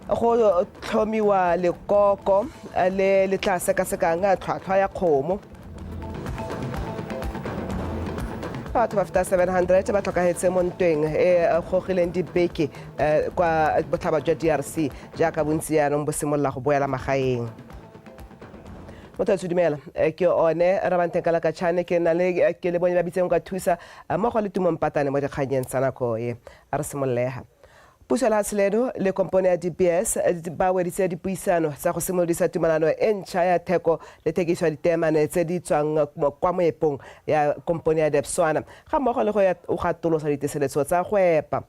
go tlhomiwa lekoko le le tla sekasekang tlhwatlhwa ya kgomo batho ba feta 700 ba tlhokagetse mo ntweng e gogileng dibeke kwa botlhaba jwa drc jaaka bontsi jaanong bo simolola go boela magaeng mothatso dumela eh, ke one rabantenkala ka chane ke na le eh, ke le bone ba bitseng ka thusa eh, mmogo le tumong patane mo dikganyeng tsa nako e a re simololega puso la seledo le kompone ya dbs ba weditse dipuisano tsa go simolodisa tumalano e ntšha ya theko le thekiso ya ditemane tse di tswang kwa moepong ya kompone ya depswana ga mmogo le go gatolosa diteseletso tsa go epa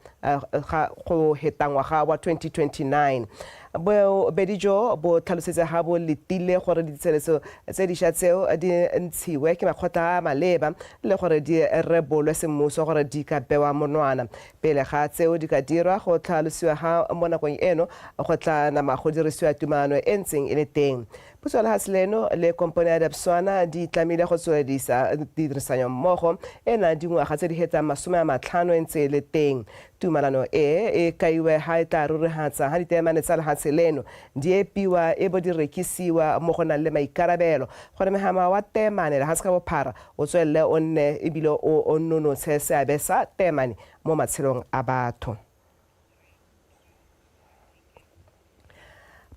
go hetangwaga wa 2029 Bobedi jo bo tlhalosetse ga bo letile gore ditsheleso tse diša tseo di ntshiwe ke makgotla a a maleba le gore di rebolwe semmuso gore di ka bewa monwana. Pele ga tseo di ka dirwa, go tlhalosiwa ga mo nakong eno go tla nama go dirisiwa tumalano e ntseng e le teng. Puso ya lehatshe leno le kompone ya Debswana di tlamile go tsweledisa tirisanyommogo ena dingwaga tse di hetsang masome a matlhano e ntse e le teng. Tumalano e e kaiwe ha e tla rurihatsa ha ditaemane tsa lehatshe leno di epiwa e bo di rekisiwa mo go nang le maikarabelo gore mehama wa taemane lehatshe ka bophara o tswelele o nne e bile o o nonotshe seabe sa taemane mo matshelong a batho.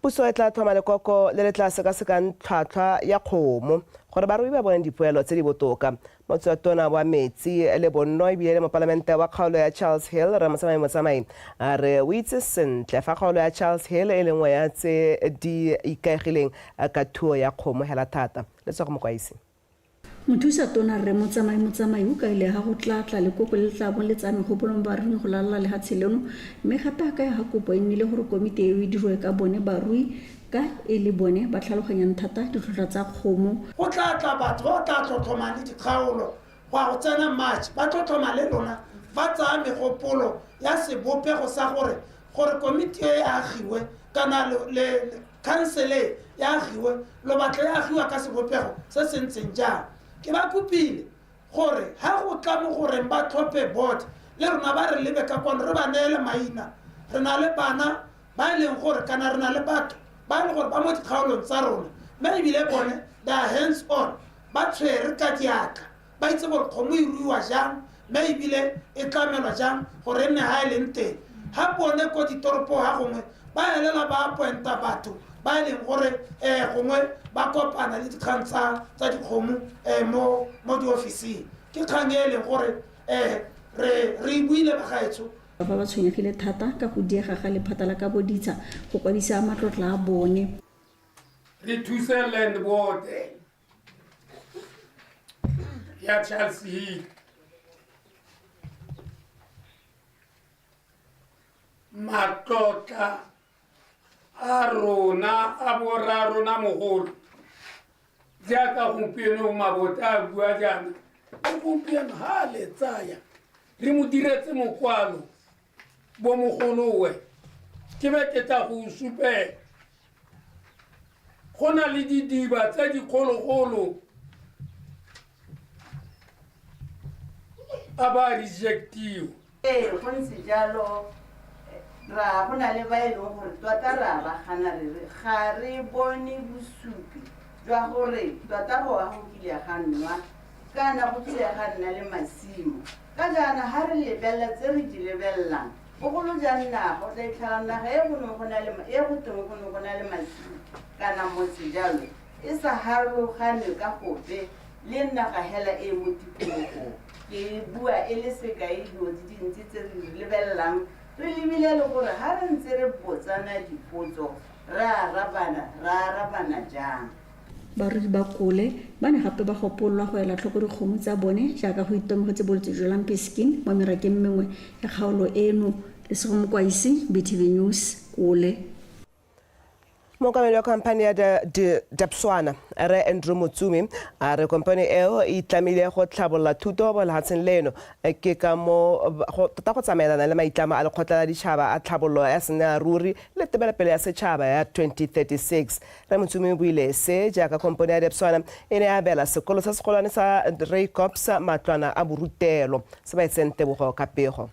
Puso e tla tlhoma lekoko le le tla sekasekang tlhwatlhwa ya kgomo gore barui ba bone dipoelo tse di botoka. Motswetona wa metsi le bonno ebile le mopalamente wa kgaolo ya Charles Hill, Rre Motsamai Motsamai, a re o itse sentle fa kgaolo ya Charles Hill e le nngwe ya tse di ikaegileng ka thuo ya kgomo hela thata. Letsogo Mokwaisi. Mothusa Tona Rre Motsamai Motsamai o kaile ha go tla tla lekoko le le tla bong le tsaya megopolo mo baruing go lalala lehatshe leno mme gape a kaya ha kopo e nnile gore komiti eo e dirwe ka bone barui ka e le bone ba tlhaloganyang thata ditlhotlhwa tsa kgomo Go tla tla batho ba ba tla tlhotlhomang le dikgaolo go ya go tsena March ba tlhotlhoma le lona ba tsaya megopolo ya sebopego sa gore gore komiti e e agiwe kana le khansele ya agiwe lobatla ya agiwa ka sebopego se se ntseng jang ke ba kopile gore ga go tla mo goreng ba tlhophe board le rona ba re lebe ka kwano re ba neele maina re na le bana ba e leng gore kana re na le batho ba e leng gore ba mo dikgaolong tsa rona mme ebile bone they are hands on ba tshwere ka diatla ba itse gore kgomo e ruiwa jang mme ebile e tlamelwa jang gore e nne ga e leng teng ga bone ko ditoropo ga gongwe ba elela ba appointa batho ba e leng gore um gongwe ba kopana le dikgang tsa tsa dikgomo um mo mo diofising ke kgang e e leng gore um re re e buile bagaetsho ba ba tshwenyegile thata ka go diega ga lephata la ka boditsha go kwadisa matlotla a bone re thuse land board ya Charles Hill matlotla a rona a borra rona mogolo jaaka gompieno mabota a bua jaana gompieno ga a le tsaya re mo diretse mokwalo bomogolowe ke be ke tla go supela go na le didiba tse dikgologolo a ba rejectiwa ee go ntse jalo ra go na le ba e leng gore tota re a ba gana re re ga re bone bosupi jwa gore tota go wa go kile ga nwa kana go kile ga nna le masimo Ka jaana ga re lebelela tse re di lebelelang, bogolo jang naga, o tla itlhela naga e go neng go na le e go teng go ne go na le masimo kana motse jalo e sa harologanwe ka gope le naga hela e e mo tikologong. Ke bua e le sekai dilo di dintsi tse re di lebelelang re lebile le gore ga re ntse re botsana dipotso re arabana re arabana jang. Barui ba Kole ba ne gape ba gopololwa go ela tlhoko dikgomo tsa bone jaaka go itemogetse bolwetse jwa lumpy skin mo merakeng mengwe ya kgaolo eno. Lesego Mokwaisi, BTV News, Kole. Mookamedi wa khamphane ya Dapswana, Rre Andrew Motsumi, a re kompone eo e itlamile go tlhabolola thuto mo lehatsheng leno ke ka mo tota go tsamaelana le maitlamo a Lekgotla la Ditšhaba a Tlhabololo ya Senelaruri le Tebelopele ya Setšhaba ya 2036. Rre Motsumi o buile se jaaka kompone ya Debswana e ne ya abela sekolo se segolwane sa Reikops matlwana a borutelo se ba etseng tebogo ka pego.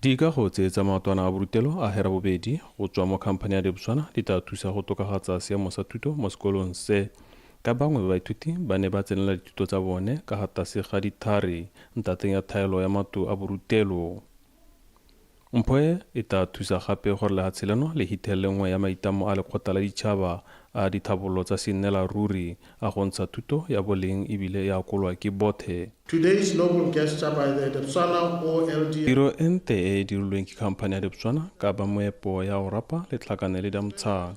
Dikago tse tsa maotwana a borutelo a hera bobedi go tswa mo khamphane ya Debswana di tla thusa go tokagatsa seemo sa thuto mo sekolong se. Ka bangwe ba baithuti ba ne ba tsenela dithuto tsa bone ka ga tase ga dithari ntateng ya thaelo ya matlo a borutelo. Mpho e e tla thusa gape gore lehatshe leno le hithelele nngwe ya maitammo a Lekgotla la Ditšhaba a dithabololo tsa seennelaruri a go ntsha thuto ya boleng e bile e akolwa ke bothe. Today's noble gesture by the Debswana OLD. Tiro e nte e e dirilweng ke khamphane ya Debswana ka ba moepo ya go rapa letlhakane le Damtsang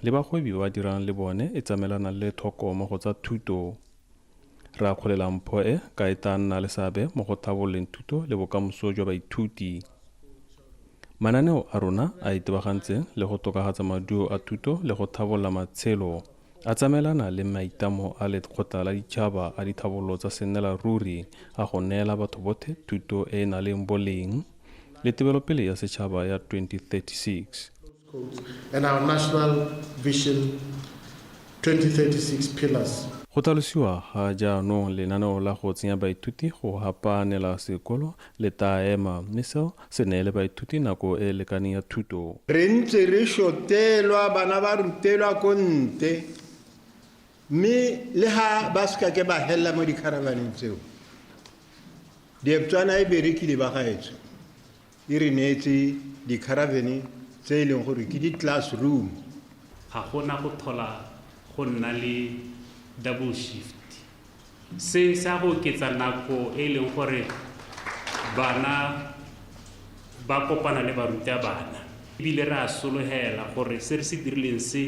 le bagwebi ba ba dirang le bone e tsamaelana le le thoko mo go tsa thuto. Re akgolela mpho e ka e tla nna le seabe mo go tlhabololeng thuto le bokamoso jwa baithuti. Mananeo a rona a itebagantseng le go tokafatsa maduo a thuto le go tlhabolola matshelo a tsamaelana le maitlamo a Lekgotla la Ditšhaba a Ditlhabololo tsa Sennelaruri a go neela batho botlhe thuto e e naleng boleng le tebelopele ya setšhaba ya 2036. Go tlhalosiwa ga jaanong lenaneo la go tsenya baithuti go hapaanela sekolo le taa ema mme seo se neele baithuti nako e e lekaneng ya thuto. Re ntse re shotelwa bana ba rutelwa ko nte mme le ha ba se ka ke ba helela mo dikharavaneng tseo, Dieptswana e berekile bagaetsho. e re neetse dikharavene tse e leng gore ke di-classroom ga gona go tlhola go nna le double shift se sa go oketsa nako e leng gore bana ba kopana le barutabana ebile re a solegela gore se re se dirileng se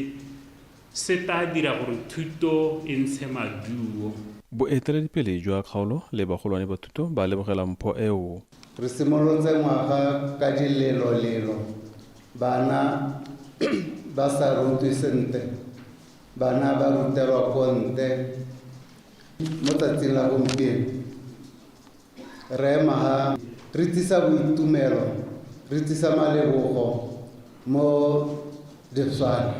Se taa dira gore thuto e ntshe maduo. Boeteledipele jwa kgaolo le bagolwane ba thuto ba lebogela mpho eo. Re simolotse ngwaga ka dilelolelo, bana ba sa rutwe sentle, bana ba rutelwa ko ntle mo tsatsing la gompieno. Rre Mahaa, re tlisa boitumelo, re tlisa malebogo mo Dipswana.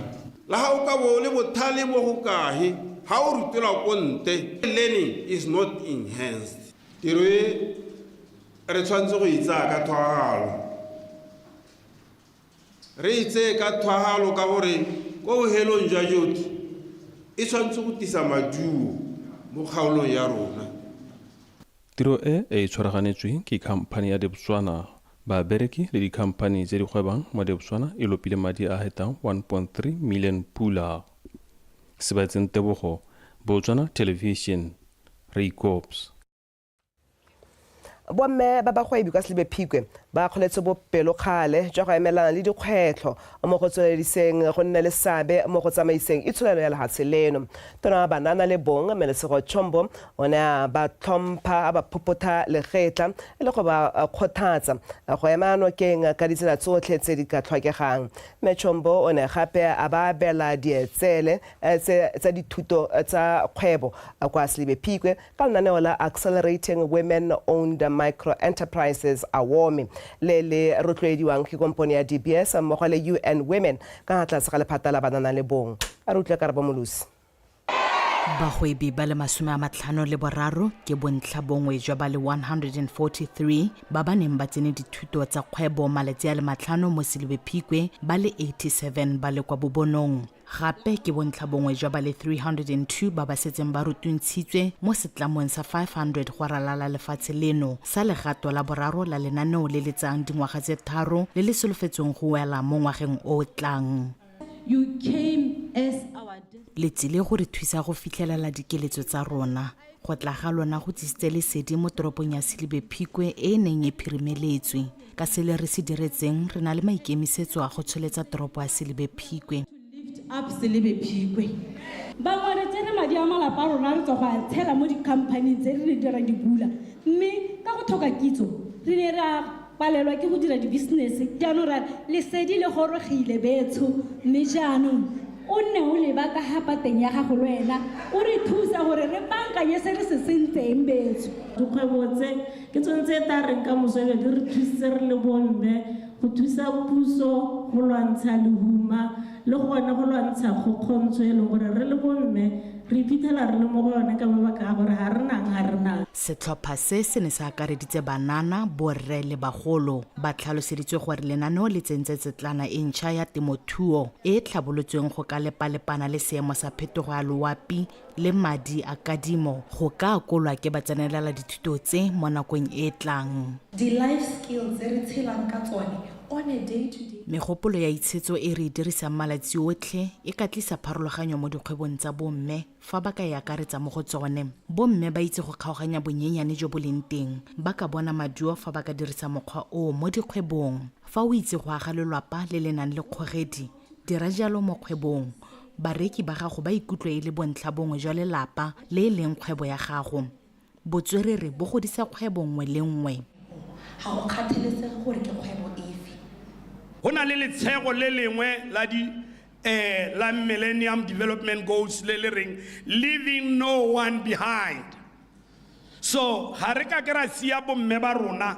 Le ha o ka bo o le bothale bo go kahe, ha o rutelwa ko nte, learning is not enhanced. Tiro e re tshwanetse go e tsaya ka tshwaragano. Re e tseye ka thwahalo ka gore kwa bohelong jwa jotlhe e tshwanetse go tisa maduo mo kgaolong ya rona. Tiro e e tshwaraganetswe ke khamphani ya Debswana. Babereki le dikhamphani tse di gwebang mo Debswana e lopile madi a hetang 1.3 million pula. Sebetseng Tebogo, Botswana Television, Reikops. bomme ba bagwebi kwa selebe phikwe ba kgoletse bopelokgale jwa go emelana le dikgwetlho mo go tswelediseng go nne le seabe mo go tsamaiseng itsholelo ya lehatshe leno tona banana le bong melesego chombo o ne a ba tlhompha a ba phopotha legetla e le go ba kgothatsa go ema nokeng ka ditsela tsotlhe tse di ka tlhokegang mme chombo o ne gape a ba abela dietsele eh, tsa dithuto eh, tsa kgwebo eh, kwa selebe phikwe ka lenaneo la Accelerating Women Owned Microenterprises, AWOME, le le rotloediwang ke kompone ya DBS mmogo le UN Women ka ga tlase ga lephata la banana le bong. A re utlwe Karabo Molosi. Bagwebi ba le masome a matlhano le boraro ke bontlha bongwe jwa ba le 143 ba ba neng ba tsene dithuto tsa kgwebo malatsi a le matlhano mo Selebephikwe ba le 87 ba le kwa Bobonong. Gape ke bontlhabongwe jwa ba le 302 ba ba setseng ba rutuntshitswe mo setlamong sa 500 go ralala lefatshe leno sa legato la boraro la lenaneo le le tsayang dingwaga tse tharo le le solofetsweng go wela mo ngwageng o o tlang. Le tsile go re thusa go fitlhelela dikeletso tsa rona. Go tla ga lona go tlisitse lesedi mo toropong ya Selebephikwe e e neng e phirimeletswe. ka sele re se diretseng re na le maikemisetso a go tsholetsa toropo ya selebe phikwe up selebe phikwe bangwe re tsere madi a malapa a rona re tswa go a tshela mo dikhamphaning tse re ne di ra di bula mme ka go tlhoka kitso re ne ra palelwa ke go dira dibusiness jaanong ra lesedi le gorogile betsho mme jaanong o nne o leba ka ga pateng ya gago le wena o re thusa gore re bankanye se re se sentseng betsho dikgwebo tse Ke tsone tse e tla reng ka moso e be di re thusitse re le bomme go thusa puso go lwantsha lehuma le gone go lwantsha kgokgontsho e leng gore re le bomme re iphitlhela re le mo go yone ka mabaka a gore ga re nang ga re nang. Setlhopha se se ne se akareditse banana, borre le bagolo. Ba tlhaloseditswe gore lenaneo le tsentse tsetlana e ntšha ya temothuo e e tlhabolotsweng go ka lepalepana le seemo sa phetogo ya loapi le madi a kadimo go ka akolwa ke batsenelela dithuto tse mo nakong e e tlang. Di-life skill tse re tshelang ka tsone on a day to day. Megopolo ya itshetso e re e dirisang malatsi otlhe e ka tlisa pharologanyo mo dikgwebong tsa bomme fa ba ka e akaretsa mo go tsone. Bomme ba itse go kgaoganya bonyenyane jo bo leng teng, ba ka bona maduo fa ba ka dirisa mokgwa oo mo dikgwebong. Fa o itse go aga lelwapa le le nang le kgogedi, Dira jalo mo kgwebong. Bareki ba gago ba ikutlwe e le bontlhabongwe jwa lelapa le e leng kgwebo ya gago. Botswerere bo godisa kgwebo nngwe le nngwe. Ga go kgathalesege gore ke kgwebo efe. Go na le letshego le lengwe la di ee la Millennium Development Goals le le reng Leaving No One Behind. So ga re kake ra sia bomme ba rona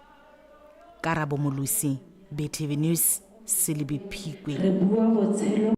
Karabo Molosi, BTV News, Selebi Phikwe. Re bua botshelo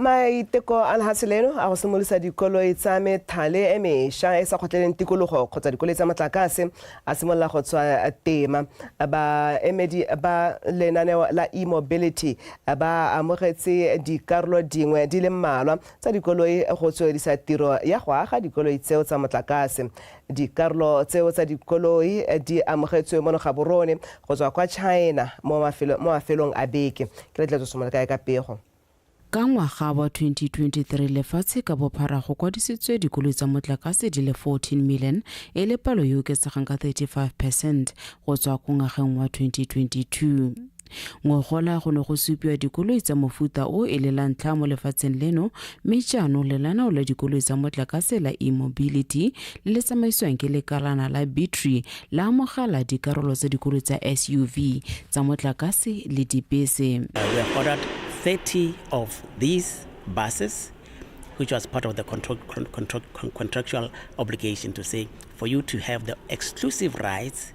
maiteko a lehatshe leno a go simolosa dikoloi tsa methale e mesha e sa kgotleleng tikologo kgotsa dikoloi tsa motlakase a simolola go tswa tema baemedi ba lenaneo la e-mobility ba amogetse dikarolo dingwe di le mmalwa tsa dikoloi go tswelisa tiro ya go aga dikoloi tseo tsa motlakase Dikarolo tseo tsa dikoloi di amogetswe mono gaborone go tswa kwa China mo mafelong a beke. Ke letletso somola kae ka pego. Ka ngwaga wa 2023 lefatshe ka bophara go kwadisitswe dikoloi tsa motlakase di le 14 million e le palo e oketsegang ka 35 percent go tswa ko ngwageng wa 2022. Ngogola go ne go supiwa dikoloi tsa mofuta o e le la ntlha mo lefatsheng leno mme jaanong le lanao la dikoloi tsa motlakase la e-mobility le le tsamaisiwang ke lekalana la battery la amogela dikarolo tsa dikoloi tsa SUV tsa motlakase le dibese. Uh, we have ordered 30 of these buses which was part of the contra contra contractual obligation to say for you to have the exclusive rights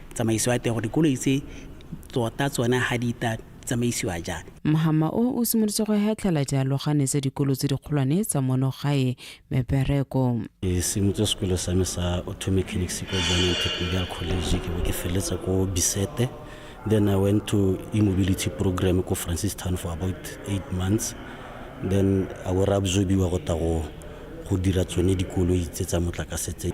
tsamaiso ya teng gore dikoloi tse tota tsone ga di ta tsamaisiwa jang mohama o o simolotse go hetlhela dialogane tsa dikolo tse dikgolwane tsa mono gae mebereko ke simotse sekolo sa me sa auto mechanics ko jaanong technical college ke bo ke feleletsa ko bisete then i went to e-mobility program ko francis town for about eight months then a were absorbiwa go ta go dira tsone dikoloi tse tsa motlakase tse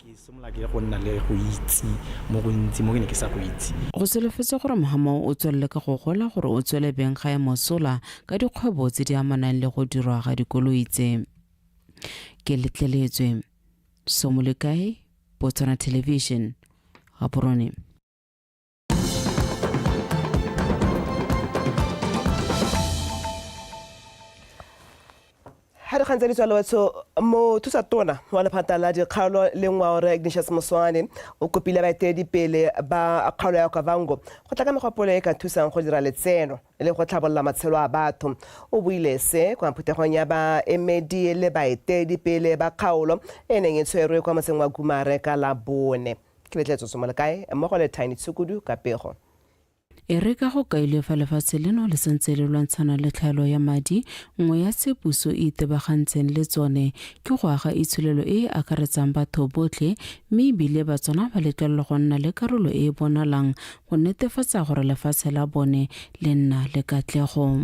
Ke simolola ke go nna le go itse mo go ntsi mo ke ne ke sa go itse. Go solofetse gore Mohamao o tswelele ka go gola gore o tswele beng ga e mosola ka dikgwebo tse di amanang le go dirwa ga dikoloi tse. Ke letleletswe. Somolekae, Botswana Television, Gaborone. ga re gantse ditswalo batho mothusa tona wa lephata la dikgaolo le ngwao re ignatius moswane o kopile baeteledipele ba kgaolo ya okavango go tla ka megopolo e ka thusang go dira letseno le go tlhabolola matshelo a batho o buile se kwa phuthegong ya baemedi le baeteledipele ba kgaolo e neng e tshwerwe kwa motseng wa kumare ka la bone Ke betlele tsotso mo le kae? Mmogo le Tiny Tshukudu ka pego. E re ka go kailwe fa lefatshe leno le santse le lwantshana le tlhaelo ya madi, nngwe ya tse puso e itebagantseng le tsone ke go aga itsholelo e e akaretsang batho botlhe mme ebile Batswana ba letlelelwa go nna le karolo e e bonalang go netefatsa gore lefatshe la bone le nna le katlego.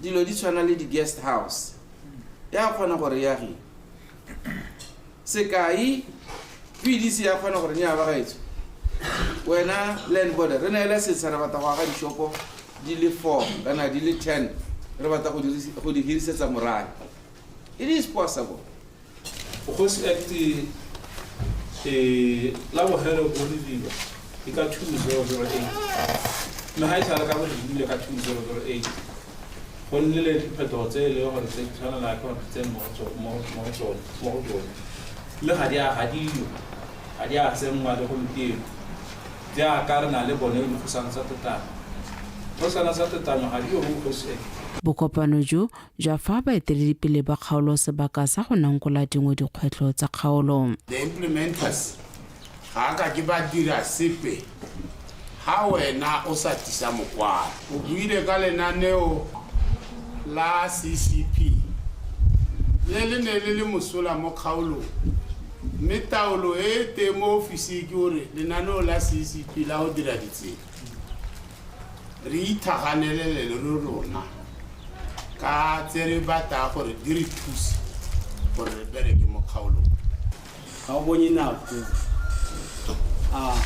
dilo di tshwana le di-guest house ya kgona gore yagi sekai pdc ya kgona gore nya bagaetso wena land border re neele setsha re batla go aga dishopo di le four kana di le ten re batla go dirisi- go di hirisetsa morae it is possible Bogosi Act e la bogelo bo diriwa ke ka 2008 mme ga e sale ka bo dirile ka 2008 go nne le diphetogo tse e leng gore tse di tshwanela ke gore tse mo go tsone mme ga di a gadiwa ga di a tsenngwa le gompieno jaaka re na le bone dikgosana tsa tetanyo dikgosana tsa tetanyo ga di yo mo bogosi Act Bokopano jo jwa fa baeteledipele ba kgaolo sebaka sa go nankola dingwe dikgwetlho tsa kgaolo. The implementers ga a ka ke ba dira sepe ha wena o sa tlisa mokwalo. O buile ka lenaneo la CCP le le ne le le mosola mo kgaolong mme taolo e e teng mo ofising ke gore lenaneo la CCP la go dira ditsela re ithaganele le lo lona ka tse re batla gore di re thuse gore re bereke mo kgaolong ga o bonye nako a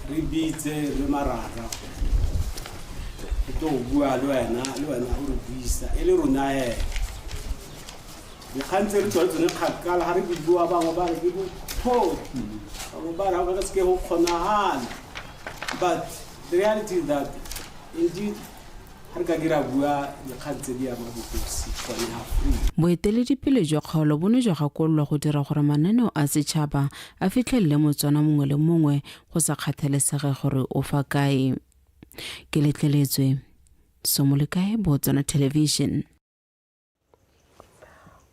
re bitse re marara ke tlo bua le wena le wena o re buisa e le rona ena dikgang tse re tsone tsone kgakala ga re bua bangwe ba re ke bopho bangwe ba re ga ba ka seke go kgonagala But the reality is that indeed ha re ka ke ra bua dikgang tse di ama bokosi gone ha free. Boeteledipele jwa kgaolo bo ne jwa gakololwa go dira gore mananeo a setšhaba a fitlhelele Motswana mongwe le mongwe go sa kgathalesege gore o fa kae. Ke letleletswe Somolekae, Botswana Television.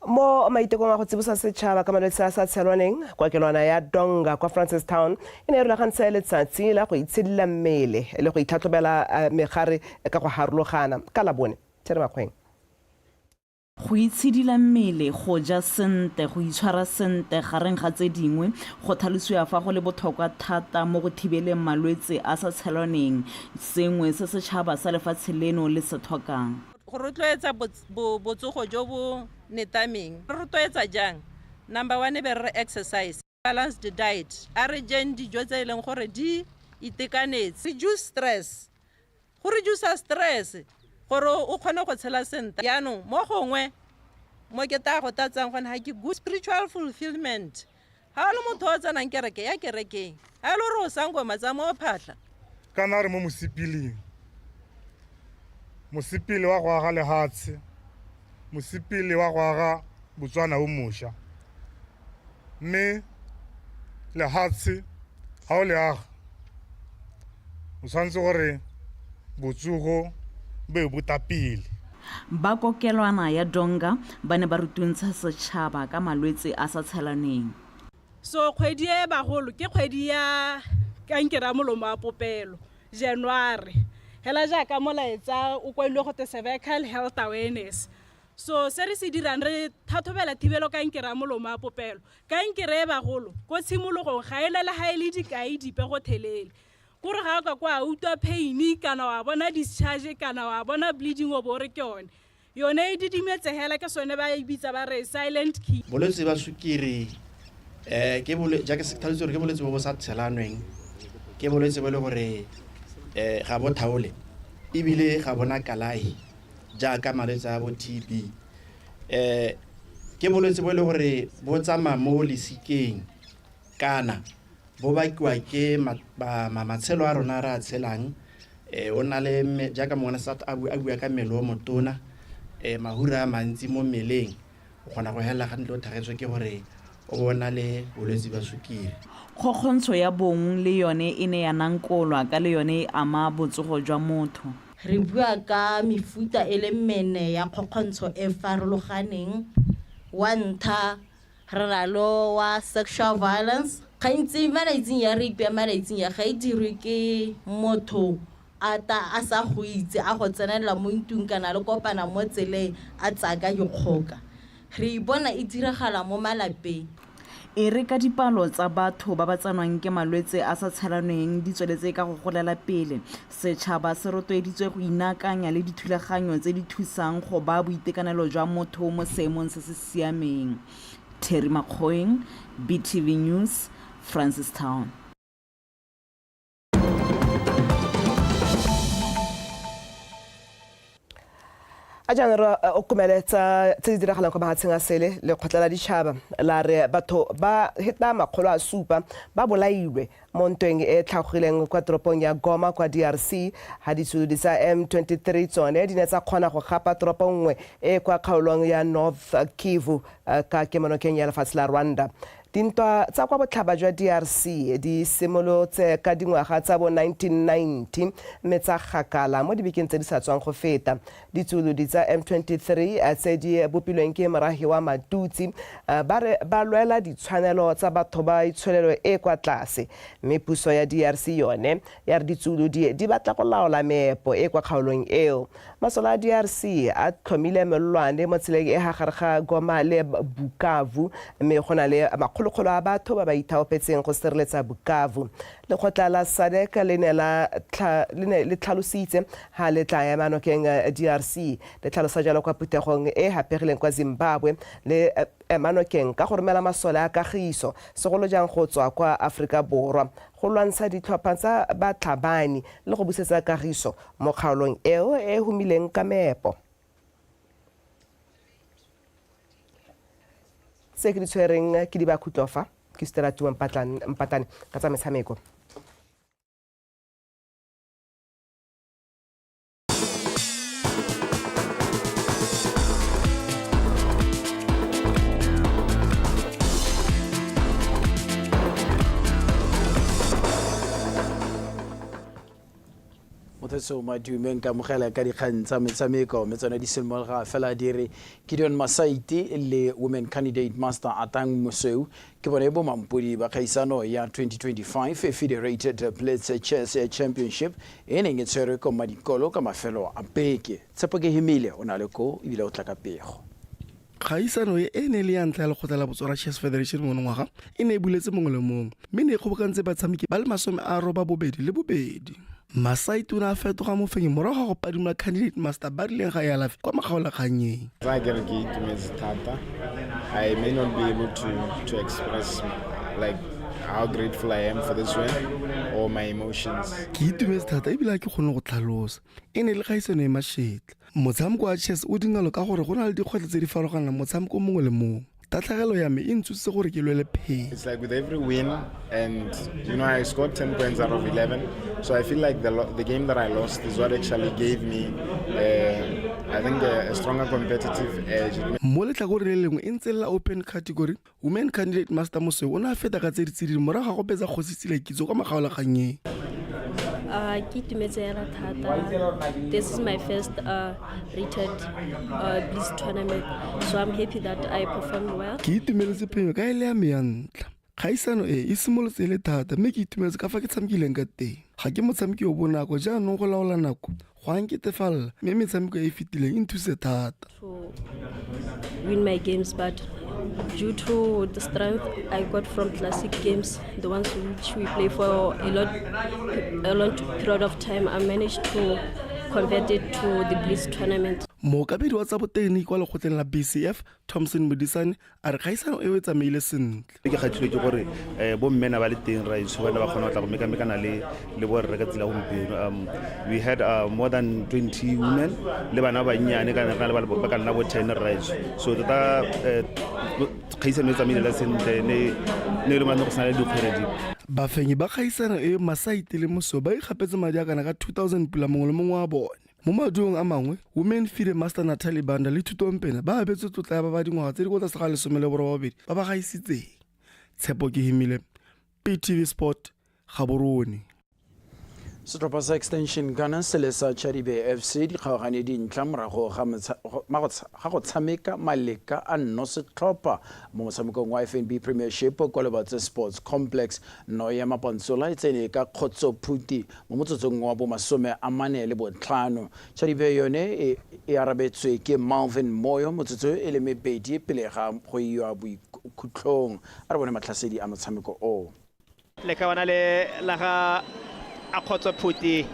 mo maitekong a go tsibosa setšhaba ka malwetse a sa tshelwaneng kokelwana ya donga kwa francistown e ne e rulagantse letsatsi la go itshedila mmele le go itlhatlhobela eh, megare ka go harologana ka labone tere makgweng go itshedila mmele go ja sente go itshwara sente gareng ga tse dingwe go tlhalosiwa fa go le botlhokwa thata mo go thibeleng malwetse a sa tshelwaneng sengwe se setšhaba sa lefatshe leno le se tlhokang go rotloetsa botsogo jo bo netameng re rotloetsa jang number one e be re re exercise balanced diet a re jeng dijo tse e leng gore di itekanetse reduce stress go reducer stress gore o kgone go tshela sentle jaanong mo gongwe mo ke tla go tatsang gone ga ke good spiritual fulfillment Ga le motho o tsenang kereke ya kerekeng. Ga e le gore o sangoma tsa mo phatlha. Kana re mo mosipileng. Mosipele wa go aga lehatshe. Mosipele wa go aga Botswana o mosha. Mme lehatshe ga o le aga o tshwanetse gore botsogo bo e botapele. Ba kokelwana ya Donga ba ne ba rutuntsha setšhaba ka malwetse a sa tshelaneng. So kgwedi e bagolo ke kgwedi ya kankere ya molomo wa popelo, January. Hela jaaka molaetsa o kwailwe go te Cervical Health Awareness. So se re se dirang re thathobela thibelo kankere ya molomo wa popelo. Kankere e bagolo ko tshimologong ga e na le ha e le dikai dipe go thelele. kore ga ka kwa a utlwa pain kana wa bona discharge kana wa bona bleeding o bo re ke yone yone e didimetsegela ke sone ba e bitsa ba re silent key bolwetse ba sukiri um ke bole jaaka se tlhaletse gore ke bolwetse bo bo sa tshelanweng ke bolwetse bo e le gore um ga bo thaole ebile ga bona kalahi jaaka malwetse a bo t b um ke bolwetse bo e le gore bo tsamaya mo lesikeng Kana, bo bakiwa ke matshelo a rona a re a tshelang. O nna le, jaaka mongwe wa SARS a bua ka mmele o motona, mahura a mantsi mo mmeleng, o kgona go helela gantsi o thagetswe ke gore o bo o na le bolwetse jwa sukiri. Kgokgontsho ya bong le yone e ne ya nankolwa ka le yone e ama botsogo jwa motho. Re bua ka mefuta e le mene ya kgokgontsho e farologaneng. Wa ntlha, Rralo wa sexual violence. Gantsi malaitsing ya rape ya malaitsing ya ga e dirwe ke motho a ta a sa go itse a go tsenelela mo ntung kana le kopana mo tseleng a tsaya ka dikgoka. Re ipona e diragala mo malapeng. E re ka dipalo tsa batho ba ba tsenwang ke malwetse a sa tshelanweng di tsweletse ka go golela pele, Setšhaba se rotloeditswe go inaakanya le dithulaganyo tse di thusang go baa boitekanelo jwa motho mo seemong se se siameng. Terry Makgoeng, BTV News, Francistown. a jaana re eh, o kumele tsa tse di diragalang kwa mahatsheng a sele lekgotla la ditšhaba la re batho ba heta makgolo a supa ba bolailwe mo ntweng e tlhagogileng kwa toropong ya goma kwa drc ha ditshududi tsa m23 tsone di ne tsa kgona go gapa toropo nngwe e kwa kgaolong ya north kivu eh, ka kemonokeng ya lefatshe la rwanda Dintwa tsa kwa botlhaba jwa DRC di simolotse ka dingwaga tsa bo 1990 mme tsa gakala mo dibekeng tse di sa tswang go feta. Ditsuolodi tsa M23 tse di bopilweng ke morahi wa Matutsi ba re ba lwela ditshwanelo tsa batho ba itsholelo e e kwa tlase mme puso ya DRC yone ya re ditsuolodi di batla go laola meepo e e kwa kgaolong eo. Masole a DRC a tlhomile melolwane mo tseleng e ha gare ga Goma le Bukavu mme go na le makgolokgolo a batho ba ba ithaopetseng go sireletsa Bukavu. Lekgotla la SADC le ne la le ne le tlhalositse ha le tla ema nokeng DRC le tlhalosa jalo kwa phuthegong e hapegileng kwa Zimbabwe le ema nokeng ka go romela masole a kagiso segolo jang go tswa kwa Aforika Borwa go lwantsha ditlhopha tsa batlhabani le go busetsa kagiso mo kgaolong eo e e humileng ka meepo. Tse ke di tshwereng ke di ba khutlofa ke Stella Tuma Mpatane ka tsa metshameko. mothetsong wa dumeng ka mogela ka dikgang tsa metshameko mme tsone di simologa fela di re gideon masaite le women candidate master atang mosweu ke bone bo mampodi ba kgaisano ya 2025 federated plates chess championship e neng e tshwerwe ko madikolo ka mafelo a beke tshepo ke himile o na le ko ebile o tla ka pego Kgaisano e e ne e le ya ntlha ya lekgotla la Botswana Chess Federation monongwaga e ne e buletse mongwe le mongwe mme ne e kgobokantse batshameki ba le masome a roba bobedi le bobedi. Masai tona a fetoga mofenyi morago ga go padimola candidate Master Barileng ga Ealafi kwa makgaolakgannyeng. Fa ke re ke itumetse thata, I may not be able to, to express like how grateful I am for this win or my emotions. Ke itumetse thata ebile ga ke kgone go tlhalosa. E ne e le kgaisano e mashetla. Motshameko wa chess o dinalo ka gore go na le dikgwetlho tse di farologanang motshameko mongwe le mongwe. Tatlhegelo ya me e ntsositse gore ke lwele pheng. It's like with every win and you know I scored 10 points out of 11 so I feel like the, the game that I lost is what actually gave me uh, I think a, a stronger competitive edge. Mo letlhakoreng le lengwe e ntse la open category Women candidate Master Mosweu o ne a feta ka tse di tsididi morago ga go betsa kgosi tsile kitso kwa makgaolakganyeng. Uh, ke itumetse yana thata this is my first uh, rated uh, bliss tournament so i'm happy that i performed well ke itumeletse phenyo ka e le ya me ya ntla kgaisano e e simolotse e le thata mme ke itumeletse ka fa ke tshamekileng ka teng ga ke motshameki o bonako jaanong go laola nako go a nketefalela mme metshameko e e fetileng e nthuse thata win my games but due to the strength I got from classic games, the ones which we play for a lot, a long period of time, I managed to convert it to the Blitz tournament. Mookabedi wa tsa botegeniki kwa lekgotleng la BCF, Thompson Modisane, a re kgaisano eo e tsamaile sentle ke kgathilwe ke gore um bo mmena ba le teng raitso ba ne ba kgona go tla go mekamekana le le bo rre ka tsela gompieno um we had uh, more than 20 women le bana ba bannyane ka nna le ba ka nna bo ten raitso so tota eh, kgaisano e tsamaile sentle ne ne le mane go sena le dikgwere di bafenyi ba kgaisano e masaite le moso ba ikgapetse madi a kana ka 2000 pula mongwe le mongwe wa bone Mo maduong a mangwe, Women Feed a Master Nathalie Banda le Thuto Mpena ba abetswe tlotla ya ba ba dingwaga tse di kwa tlase ga lesome le borobabedi ba ba gaisitseng. Tshepo Kehimile, PTV Sport, Gaborone. Setlhopha sa Extension Gunners le sa Chadibe FC di kgaogane dintlha morago ga go tshameka maleka a nno setlhopha mo motshamekong wa FNB Premiership kwa Lobatse Sports Complex. No ya Mapantsola e tsene ka kgotsophuti Mo motsotsong wa bomasome a mane le botlhano, Chadibe yone e e arabetswe ke Malvin Moyo motsotso e le mebedi pele ga go iwa boikhutlhong. A re bone matlhasedi a motshameko o. Lekawana le la ga Akgotso Phuti,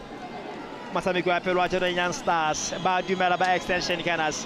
motshameki wa pele wa Jonah Young Stars, ba dumela ba Extension Gunners.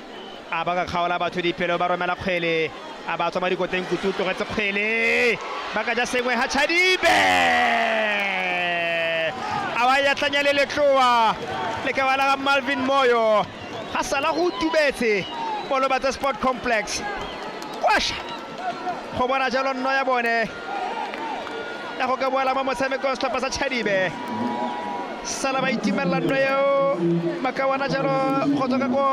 a ba ka kgaola batho dipelo ba romela kgwele a ba tswa mo dikoteng kutu o tlogetse kgwele ba ka ja sengwe ha chadibe a wa ya tlanya le letloa le ka bala ga malvin moyo ga sala go tubetse bolobatse sport complex kwasha go bona jalo nno ya bone ya go ka boela mo motshamekong setlhopha sa chadibe sala ba itimelela nto eo ba ka bona jalo go tswa ka ko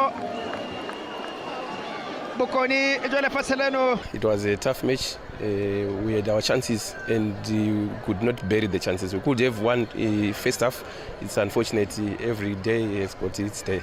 bokone jwa lefatshe leno It was a tough match. Uh, we had our chances and uh, we could not bury the chances. We could have won uh, first half. It's unfortunate. uh, Every day has got its day.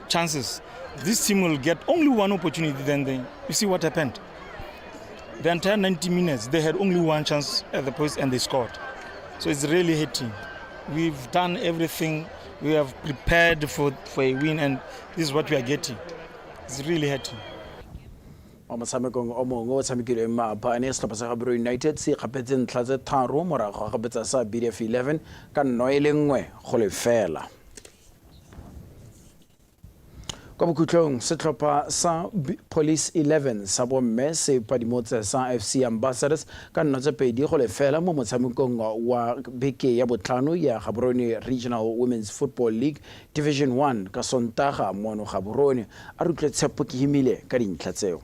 chances. This team will get only one opportunity, then they, you see what happened. The entire 90 minutes, they had only one chance at the post and they scored. So it's really hitting. We've done everything. We have prepared for, for a win, and this is what we are getting. It's really hurting. mo motshamekong o mongwe o tshamekilweng maabane setlhopha sa gabero united se kgapetse ntlha tse tharo morago ga kgapetsa sa bdf 11 ka nno e le nngwe go lefela kwa bokhutlong setlhopha sa police 11 sa bomme se padimotse sa fc ambassadors ka nna tse pedi go lefela mo motshamekong wa beke ya botlhano ya gaborone regional women's football league division 1 ka sontaga mono gaborone a rutlwe tshepo ke himile ka dintlha tseo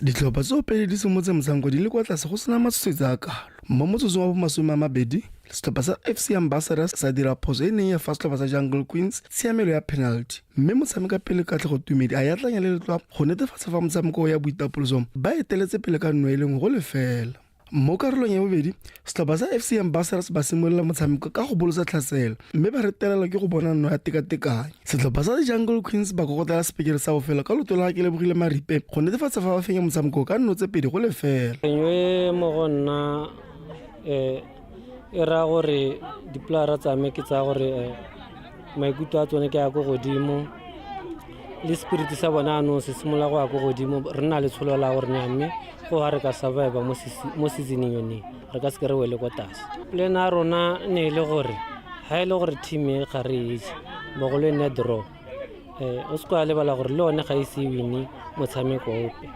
Ditlhopha tseo pele di simotse motshameko di le kwa tlase go sena matshosetsi a kalo. Mo motsotsong wa bomasome a mabedi, setlhopha sa FC Ambassadors sa dira phoso e neng ya fa setlhopha sa Jungle Queens tshiamelo ya penalty mme motshameka pele Katlego Tumedi a yatlanya le letlwa go netefatsa fa motshameko o ya boitapoloso ba eteletse pele ka nno e le nngwe go lefela. Mo karolong ya bobedi, setlhopha sa FC Ambassadors ba simolola motshameko ka go bolosa tlhaselo mme ba retelelwa ke go bona nno ya tekatekanyo. Setlhopha sa Jungle Queens ba kokotela sepikere sa bofelo ka loto la Kelebogile Maripe go netefatsa fa ba fenya motshameko ka nno tse pedi go lefela. Engwe mo go nna e raya gore dipolara tsame ke tsaya gore maikutlo a tsone ke ya ko godimo le spirit sa bona anong se simolola go ya ko godimo re na le tsholo la gore nya mme go ga re ka survive mo seasoneng yoneng re ka seke re wele ko tlase plan a rona ne e le gore ga e le gore team e ga re itse bogolo e nne draw um o se ko a lebala gore le one ga e se wine motshameko ope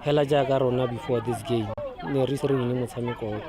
fela jaaka rona before this game ne re se re wine motshameko ope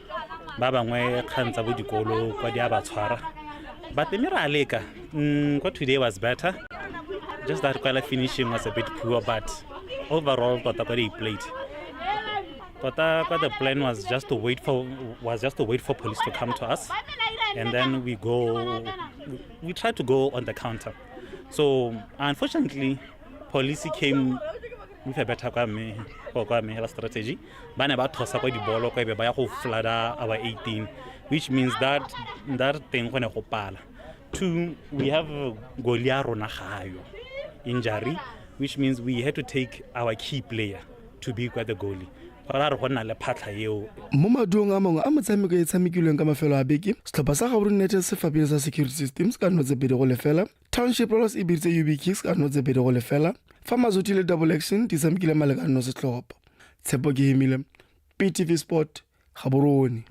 ba bangwe kgang tsa bo dikolo kwa di a ba tshwara but mme ra leka mm, kwa today was better just that kwala finishing was a bit poor but overall tota kwa di-plate tota kwa the plan was just to wait for was just to wait for police to come to us and then we go we try to go on the counter so unfortunately police came move a better kwa me go kwa me hela strategy ba ne ba thosa kwa dibolo kwa ebe ba ya go flada our 18 which means that that thing go ne go pala two we have goli ya rona gayo injury which means we had to take our key player to be kwa the goalie ra re go nna le phatlha eo mo maduong a mangwe a motshameko e tshamekilweng ka mafelo a beke setlhopha sa gaborone united se fapile sa security systems ka nno tse pedi go lefela township rolos e biritse ub kicks ka nno tse pedi go lefela fa mazoti le double action di tshamekile malekanno setlhopha tshepo ke himile ptv sport gaborone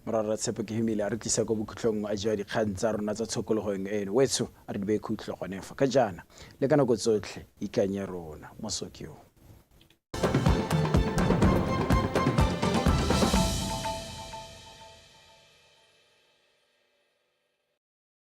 morara tshepo ke himile a re tlisa ko bokhutlong a jwa dikgang tsa rona tsa tshokologong eno wetso a re di be khutlho gone fa ka jaana le ka nako tsotlhe ikanye rona mosokio